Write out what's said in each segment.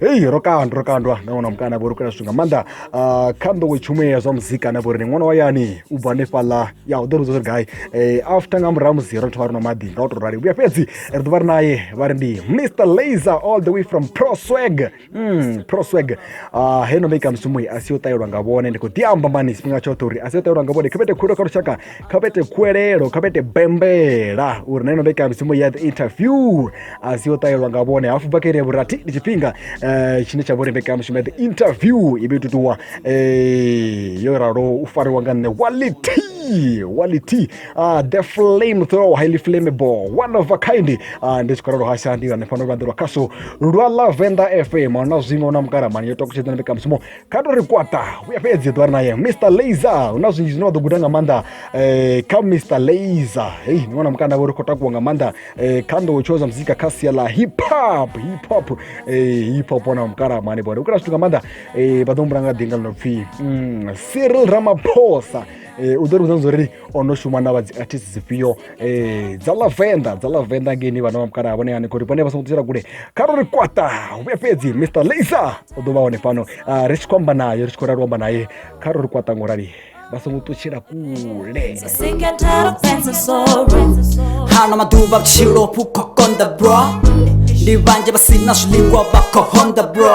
hei ro kandwa ro kandwa na wana mukana vho ri kula zwithu nga maanḓa ah, kha nḓowetshumo ya zwa muzika na vho ri ni ṅwana wa yani u bva hanefhaḽa ya u ḓo ri zwa uri gai Eh, after nga murahu ha musi ro thoma ri nwa maḓi nga u tou rali vhuya fhedzi ri ḓo vha ri naye vha ri ndi mr laser all the way from proswag mm, proswag Ah, heno mbekamishumo i a si yo ṱahelwa nga vhone ndi khou ḓi amba mani tshifhinga tshoṱhe uri a si yo ṱahelwa nga vhone khavhete khulu kha lushaka kha vha ite khuwelelo kha vha ite bembela uri na ino mbekanyamushumo ya the interview a si yo ṱahelwa nga vhone hafhu bva kha iri ya vhurathi ndi tshifhinga eh, tshine tsha vha uri mbekanyamushumo ya the interview i vhe tutuwa eh, yo ralo u fariwa nga nṋe wality wality uh, the flame throw highly flammable one of a kind uh, ndi tshi khou ralo hasha ndi hanefha no lwanḓelwa khaso lwa lavenda fm na zwiṅwe na mukaramani yo takutshedzana mbekanyamushumo kha to ri kwata vhuya fhedzi ḓo ri naye mr laser hu na zwinzhi zwine vha ḓo guda nga maanḓa um kha mr laser hei ni wana mukanda vho ri khou takuwa nga maanḓa um kha nḓowetsho zwa muzika kha sia ḽa hip hop hip hop um hip hop wana mukalamani bone vhukala zwithu nga maanḓa um vha ḓo humbula nga ḓinga ḽi no pfhi mm, cyril ramaphosa um u ḓo ri vhudza zwa uri o no shuma na vha dzi artist dzifhio um dza lavenda dza lavenda ngeini vhana vha mukalaha vhone hanefho ri vhone vha songo ḓisela kule kha ro ri kwata vhuya fhedzi mr laser o ḓo vha hone fhano ah, ri tshi khou amba naye ri tshi khou rali u amba naye kha ro ri kwata ngo rali vha songo ṱutshela kule Sick and tired of friends and sorrow. hana maḓuvha vhutshilo vhu khou konḓa bro ndi vhanzhi vha si na zwiḽiwa vha khou honda bro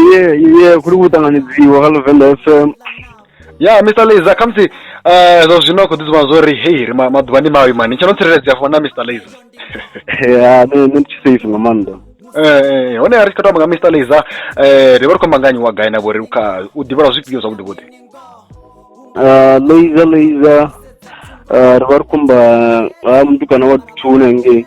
iye iye kuli kuṱanganyidziwa kha luvenḓa f m ya mr laser khamusi um zwa zwino a khou ḓidzima zwo ri hei ri maḓuvha ndi mavhi mani tsha no tsireledzea funa na mr laser ya ne ne ndi tshi safe nga maanḓa eh, eh, eh hone ri tshi khou tamba nga mr laser um ri vha ri khou amba nganyi wa gai na vhori kha u ḓivhelwa zwifhio zwavhuḓi vhuḓi ah, laser laser ah, ri vha ri khou amba ha mutukana wa duthuni hangei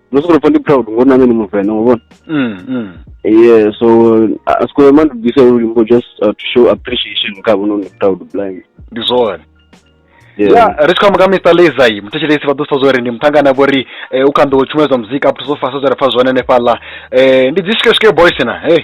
no sokou pwa ndi proud ngo nane ni muvena ngo vona mm, mm. yeah so a si kone mani bise uri mbo just uh, to show appreciation nga vhono ni proud blind ndi zwone yeah ya ri tshi khou amba nga mr lezai muthetshelesi vha ḓo sa zwori ndi muṱhangani a vho ri eh, u kha nḓou tshumelo dza muzika up to so fasa zwa ri pfa zwone hanefhaḽa Eh, ndi dzi swike swike boys na hey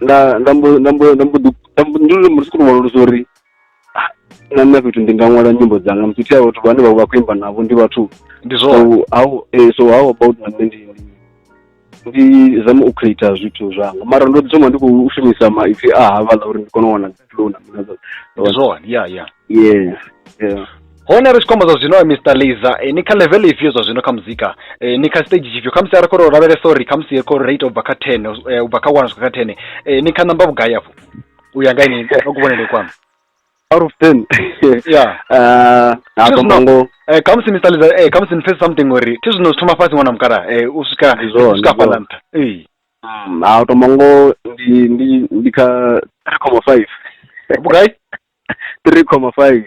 nda nda mbo nda mbo nda mbo ḓi nda mbo- ndi lune muthu khou wanulusa uri ah, na nṋe fhethu ndi nga ṅwala nyimbo dzanga musi thi a vhathu vhane vha vha khou imba navho ndi vhathu ndi so zwone how eh, so how about na nṋe ndi ndi- ndi zame u creator zwithu zwanga mara ndo ḓi thoma ndi khou shumisa maipfi a havhaḽa uri ndi kone u wana dzi flow na mini na zwoṱhe. ndi zwone ya ya yes yeah. hone ri tshi khombo zwa zwino mr laser eh, ni kha level ifhio zwa zwino kha muzika eh, ni kha stage tshifhio khamusi a ri khou lavhelesa uri khamusi ri khou rate ubva kha ten eh, ubva kha one swika kha ten eh, ni kha namba vhugai afho u ya nga ini ka kuvhonele kwanu out of ten yeah uh, hafho mango eh, khamusi mr laser eh, khamusi ni pfesesa something uri thi zwino zwi thoma fhasi ṅwana mukala eh, u swika Ndi zwone, u swika ndi zwone. fhaḽa nṱha Eh, Mm, a to mango ndi ndi ndi kha ri khoma five vhugai three comma five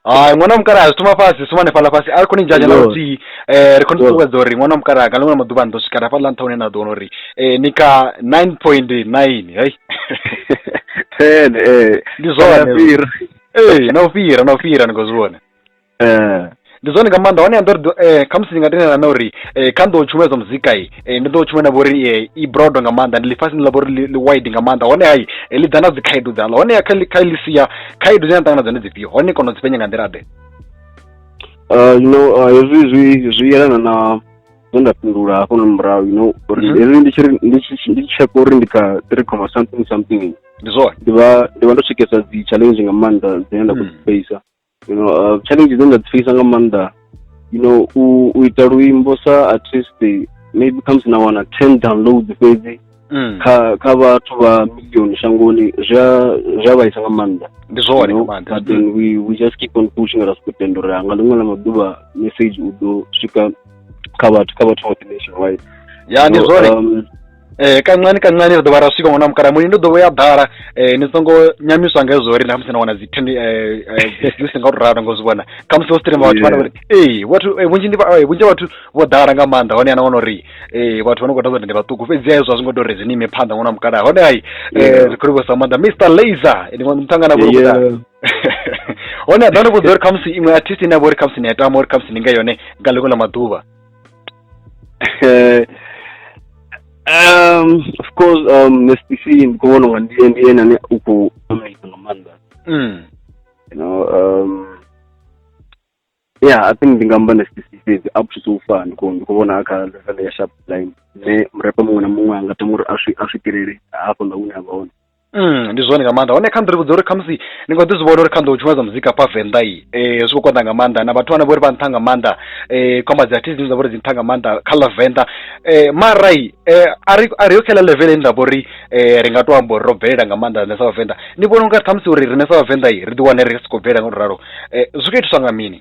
hai ṅwana wa mukalaha zwi thoma fhasi suma hanefhaḽa fhasi a ri khou ni dzhanya na Yo. luthihi um ri khou ni Yo. ṱuṱuwedza uri ṅwana wa mukalaha nga ḽiṅwe maḓuvha ni ḓo swika hafhaḽa nṱha hune na ḓo wana uri um ni kha nine point nine hei ten ee ndi zwone fhira ee na u fhira na u fhira ni khou zwi vhona eh. ndi zwone nga maanḓa hone ḓo ri eh, khamusi ndi nga tendelana na uri eh, kha nḓo tshumelo dza muzika i eh, ndi ḓo tshumela na vhori eh, i broad nga maanḓa ndi ḽifhasi ndi ḽa vhori li wide nga maanḓa hone hai eh, ḽi ḓa na dzi khaedu dzaḽo hone kha kha ḽi sia khaedu dzine na ṱangana dzone dzifhio hone kono dzi penya nga nḓila ḓe eh, you know eh, hezwi zwi zwi yelana na zwe nda fhindula hafho na murahu you know uri mhm. hezwi ndi tshi ndi tshi ndi tsheka uri ndi kha three comma something something ndi zwone ndi vha ndi vha ndo tshekesa dzi challenge nga maanḓa dzine nda khou mm. dzi facer you know uh, challenge dzine nda dzi fekisa nga maanḓa you know u, u ita luimbo sa artist maybe khamusi na wana ten downloads fhedzi mm. kha kha vhathu vha million shangoni zwi a zwi a vhaisa nga maanḓa ndi zwone nga maanḓa but then we we just keep on pushing ra soko tenda uri nga ḽiṅwe ḽa maḓuvha message u ḓo swika kha vhathu kha vhathu vhoṱhe nationwide ya ndi zwone um, eh kancane kancane ri ḓo vha ra swika ngona mukala muli ndo ḓo vhoya ḓala eh ni songo nyamiswa nga hezwo uri na musi na wana dzi thende eh, eh dzi si nga u ralo ngo zwi vhona kha musi wo streamer vhathu vha uri eh vhathu eh, vhunzhi ndi eh, vhunzhi vhathu vho ḓala nga maanḓa hone ana wana uri eh vhathu vha no khou ḓa ndi vhaṱuku fhedzi hezwo zwi ngo tori zwi ni ime phanḓa ngona mukala hone ai eh ri khou vhosa maanḓa Mr Laser ndi muthu mutangana vho kuda hone a ḓa no vhudza uri kha musi iṅwe artist ine ya vha uri kha musi ni ya tama uri kha musi ni nga yone nga ḽiṅwe ḽa maḓuvha um, of course um, mstc ndikuona unga ndiye ndiye nane uku amazing nga maanḓa mm. you know um, yeah i think ndi nga amba mstc fhedzi up to so far ndi khou- ndi khou vhona kha level ya sharp line ne murepa muṅwe na muṅwe a nga tama uri a swi- a swikelele hafho nga hune a vha hone ndi zwone nga maanḓa hone kha nḓivho dza uri khamusi ni nga ḓi zwi vhona uri kha nḓou tshumelo dza muzika hafha venḓa i um zwi khou konḓa nga maanḓa na vhathu vhane vho ri vha nṱha nga maanḓa um khomba dzi artist dzine dza vha uri dzi nṱha nga maanḓa kha ḽa venḓa um mara i a ri a ri yo kha ḽa level ine ra vha uri ri nga to amba uri ro bvelela nga maanḓa rine sa vhavenḓa ni vhona unga ṱhamusi uri rine sa vhavenḓa i ri ḓi wane ri si khou bvelela nga u to ralo zwi khou itiswa nga mini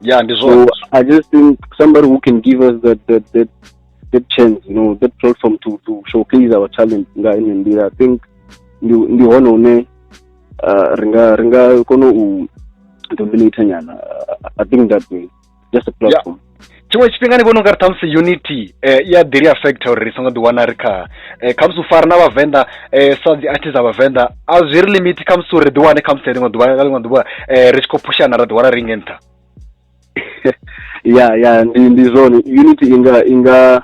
Yeah, and so I just think somebody who can give us that that that that chance, you know, that platform to to showcase our talent in India. I think ndi ndi hone hune uh, ri nga ri nga kona u dominate nyana i think that way just a platform yeah. tshiṅwe tshifhinga ni vhona u nga ri ṱhamusi unity um i a ḓi ri affecta uri ri songo ḓiwana ri kha eh, khamusi u fara na vhavenḓa eh, sa dzi artist dza vhavenḓa a zwi ri limiti khamusi uri ḓi wane khamusi ḽiṅwe ḓuvha nga ḽiṅwe ḓuvha eh, ri tshi khou phushana ra ḓi wana ri nge nṱha ya ya ndi ndi zwone unity inga inga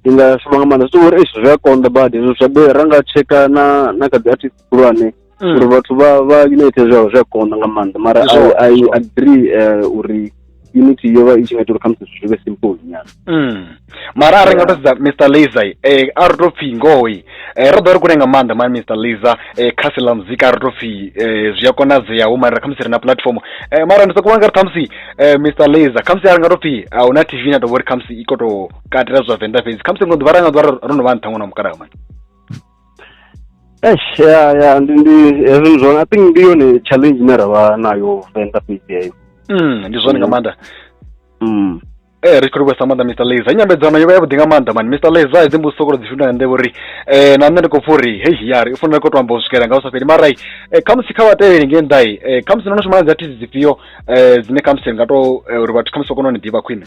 inga shuma nga maanḓa so uri zwi a konḓa badi hezwo zwa ra nga tsheka na na kha dzi artist khulwane mm. uri vhathu vha vha unite zwa zwa konda nga maanḓa mara i i agree eh, uri unity yo vha i tshi nga ita uri khamusi zwithu zwi vhe simple nyana mm. mara a ri nga to sedza mr laser eh, a ri to pfhi ngoi eh, ro ḓo ri kule nga maanḓa mani mr laser eh, kha sila muzika a ri to pfhi eh, zwi a konadzeaho mara khamusi ri na platform eh, mara ndi sokou vha nga ri khamusi eh, mr laser khamusi a ri nga to pfhi a hu na tv na to vho ri khamusi i koto katela zwa venḓa fhedzi khamusi ngo ḓuvha ra nga ḓuvha ro no vha nṱha ṅwana mukalaha mani Eish, ya ya ndi ndi hezwi ndi zwone i think ndi yone challenge ine ra vha nayo venḓa fhedzi heyo Mm, ndi zwone nga maanḓa mm. Eh, ri tshi khou livhuwesa maanḓa mr laser i nyambedzano yo vha yavhuḓi nga maanḓa mani mr laser hedzi mbudziso sokou dzi fhindula nga nḓevha uri eh, na nṋe ndi khou pfa uri hei yari u fanela khou tou amba u swikela nga u sa fheli mara i eh, khamusi kha vhatevheli ngei nnḓa i eh, khamusi no no shuma na dzi artist dzifhio eh, dzine khamusi ri nga tou eh, uri vhathu khamusi vha kone u ni ḓivha khwine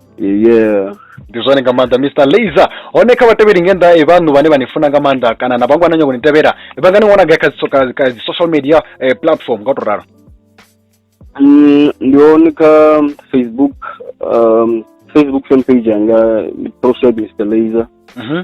yeah ndi zwone nga maanḓa mr laser hone kha vhatevheli nge nnḓa vhaṋu vhane vha ni funa nga maanḓa kana na vhangwana nyoko ni tevhela vha nga ni wana gai kha dzi social media eh, platform nga u to ralo mm, ndi hone kha facebook um, facebook fan page yanga ndi proshad mr laser mhm.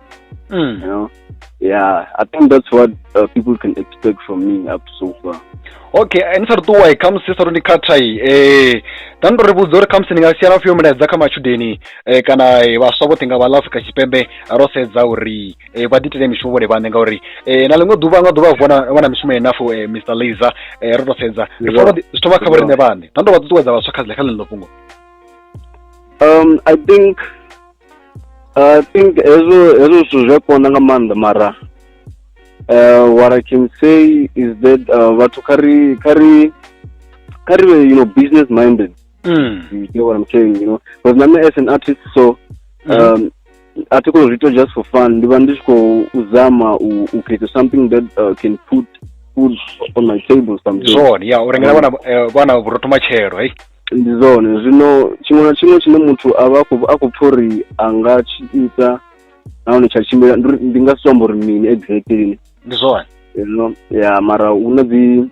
Mm. You know, yeah, I think that's what uh, people can expect from me up to so far. okay ni sa ri ṱuwa i khamusi sa ri ndi khatha i eh nda ndo ri vhudza uri khamusi ndi nga siya na fhiyo milaedza kha matshudeni eh kana eh, vhaswa vhoṱhe nga vha ḽa afrika tshipembe ro sedza uri eh vha ḓitele mishumo vhone vhaṋe ngauri eh na ḽiṅwe ḓuvha nga ḓuvha vhona vhona mishumo yenafo eh mr laser eh ro to sedza ri Yeah. fona zwi thoma kha vho riṋe vhaṋe nda ndo vha ṱuṱuwedza vhaswa kha kha ḽeneḽo fhungo Um, I think I think hezwo hezwo zwithu zwi a konḓa nga maanḓa mara uh, what I can say is that uh, vhathu kha ri kha ri kha ri vhe you know business minded mm. you know what I'm saying you know because nami as an artist so mm. um, a thi khou zwi ita just for fun ndi vha ndi tshi khou zama u u create something that uh, can put food on my table something zwone ya u rengela vhana eh, vhana vhurotho matshelo hey ndi zwone zwino tshiṅwe na tshiṅwe tshine muthu a vha a khou pfha uri a nga tshi ita nahone tsha tshimbila ndi nga si amba uri mini exactly ndi zwone no ya mara hu na dzi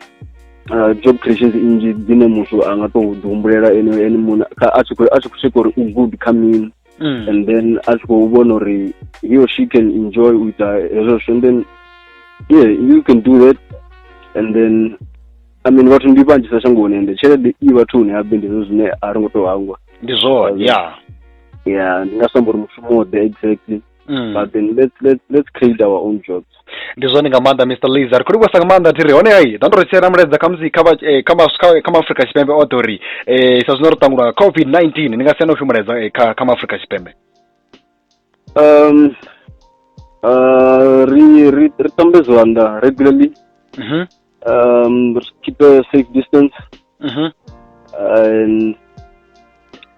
uh, job creations nnzhi dzine muthu a nga tou ḓihumbulela ene ene muṋe a tshi khou tsheka uri u good kha mini mm. and then a tshi khou vhona uri he or she can enjoy u ita hezwo zwithu and then yeah you can do that and then i mean vhathu ndi vhanzhisa shangoni ende tshelede i vhathuni habe ndi zwo zwine a ri ngo tou hangwa ndi zwone ya ya ndi nga samba uri mushumo ḓe exactly mm. but then let's, let's, let's create our own jobs ndi zwone nga maanḓa mr laser khuli kwesa nga maanḓa thiri hone hai ḓa ndo ri tshiela mulaedza khamusi kha eh, kha maafrika tshipembe o ḓo ri um sa zwino ri ṱangulwa nga covid 19 ni nga siana u fhimulaedza eh, kha kha maafrika tshipembe um uh, ri ri ri tambe zwanḓa regularly mm -hmm. Um, keep a safe distance. Mm-hmm. And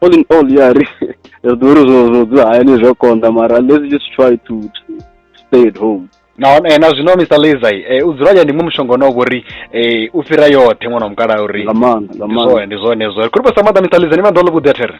all in all, yeah, zvirwere zvinodzidza haine zvakonda mara let's just try to stay at home na eh, na zwino mr lazai eh, u dzula ya ndi mu mushonga na uri eh, u fhira yoṱhe ṅwana wa mukala uri ndi zwone ndi zwone zwo kuri pa sa maḓa mr lazai ni vha ndo ḽo vhuḓi a there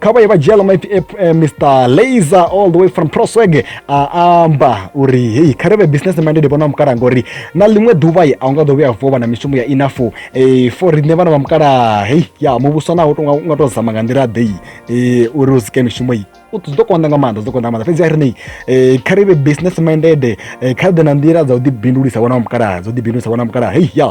kha vha ye vha dzhia ḽa maipfi eh, eh, mr laser all the way from prosweg a amba uri hei kha ri vhe business minded vhana vha mukalaha ngori na ḽiṅwe ḓuvha a u nga ḓo vhuya vuwa vha na mishumo ya enough um for riṋe vhana vha mukalaha hei ya muvhuso naho u nga tou zama nga nḓila ḓei um uri u sike mishumo i u ḓo konḓa nga maanḓa zwi ḓo konḓa nga maanḓa fhedzi a ri nei um kha ri vhe business minded kha ri ḓe na nḓila dza u ḓibindulisa vhana vha mukalaha dza u ḓibindulisa vhana vha mukalaha hei ya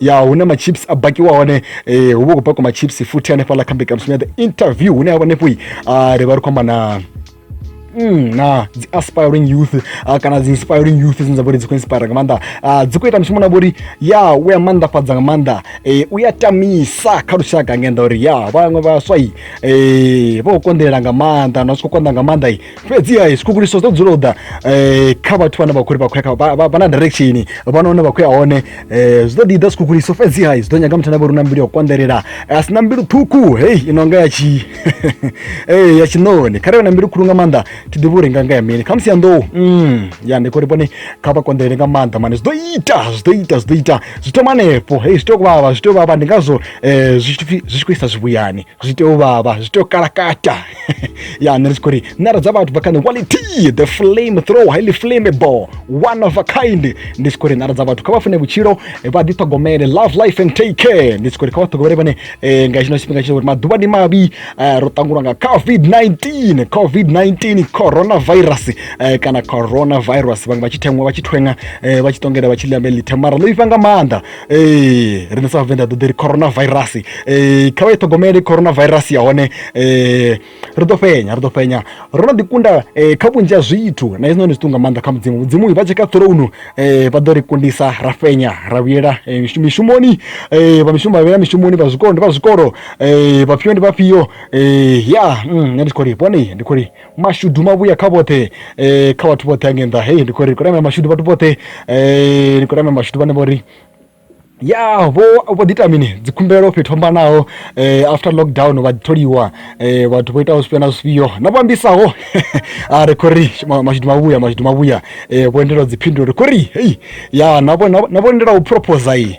ya hune machips a bakiwa hone eh, hu vha khou bakiwa machips futhi hanefhaḽa kha mbekanyamushumo ya the interview hune ha vha hanefho ah, ri vha ri khou amba na Mm, na dzi aspiring youth uh, kana dzi inspiring youth dzine dza vha uri dzi khou inspire nga maanḓa uh, dzi khou ita mishumo na vha uri ya u ya maanḓafhadza nga maanḓa eh, u ya tamisa kha lushaka ngenda uri ya vhaṅwe vhaswa i eh, vha khou konḓelela nga maanḓa na zwi khou konḓa nga maanḓa i fhedziha tshikhukuliso dzo dzula u ḓa um kha vhathu vhane vha khou ri vha khou ya vha na direction vha na hune vha khou ya hone um zwi ḓo ḓi ḓa tshikhukuliso fhedziha zwi ḓo nyaga muthu ane vha uri na mbilu ya u konḓelela a si na mbilu ṱhukhu hei i no nga ya tshi ya tshiṋoni kha ri vhe na mbilu khulu nga maanḓa thi ḓivhi uri nga nga ya mini kha musi ya nḓou mm, ya ndi khou ri vhone kha vha konḓelele nga maanḓa mane zwi ḓo ita zwi ḓo ita zwi ḓo ita zwi thoma hanefho hei zwi tea u vhavha zwi tea u vhavha ndi ngazwo um zwi tshi khou isa zwivhuyani zwi tea u vhavha zwi tea u kalakata ya nṋe ndi tshi khou ri ṋara dza vhathu bva kha nṋe quality the flame throw highly flammable one of a kind ndi tshi khou ri ṋara dza vhathu kha vha fune vhutshilo vha ḓiṱhogomele love life and take care ndi tshi khou ri kha vha ṱhogomele vhone eh, nga tshino tshifhinga tshine uri maḓuvha ndi mavhi eh, ro ṱangulwa nga covid-19 covid-19 coronavirus eh, kana coronavirus vhaṅwe vha tshi thengwa vha tshi thwenga vha tshi ṱongela vha tshi ḽa melitha mara ḽo ifa nga maanḓa ee riṋe sa vhavenḓa ḓo ḓi ri corona virus um kha vha i ṱhogomele corona virus ya hone um ri ḓo fhenya ri ḓo fhenya ro no ḓikunda um kha vhunzhi ha zwithu na hezwi noni zwiṱu nga maanḓa kha mudzimu mudzimu vha tsheka ṱhorounu um vha ḓo ri kundisa ra fhenya ra vhuyela mishumoni um vha mishumo vha vhuyela mishumoni vha zwikolo ndi vha zwikolo um vhafhio ndi vhafhio um ya nṋe ndi tshi khou ri vhone ndi khou ri mashudu mavhuya kha vhoṱhe um kha vhathu vhoṱhe ange nnḓa hei ndi khou ri khou ramela mashudu vhathu vhoṱhe um ndi khou ramela mashudu vhane vho ri ya vho vho ḓi ita mini dzikhumbelo fhethu fhambanaho eh, after lockdown vha ḓitholiwa eh, vhathu vho itaho zwifhio na zwifhio na vho ambisaho a ri khou ri ma- mashudu mavhuya mashudu mavhuya eh, vho endela dziphindulo ri khou ri hei ya na vho- na vho- na vho endela u proposa iyi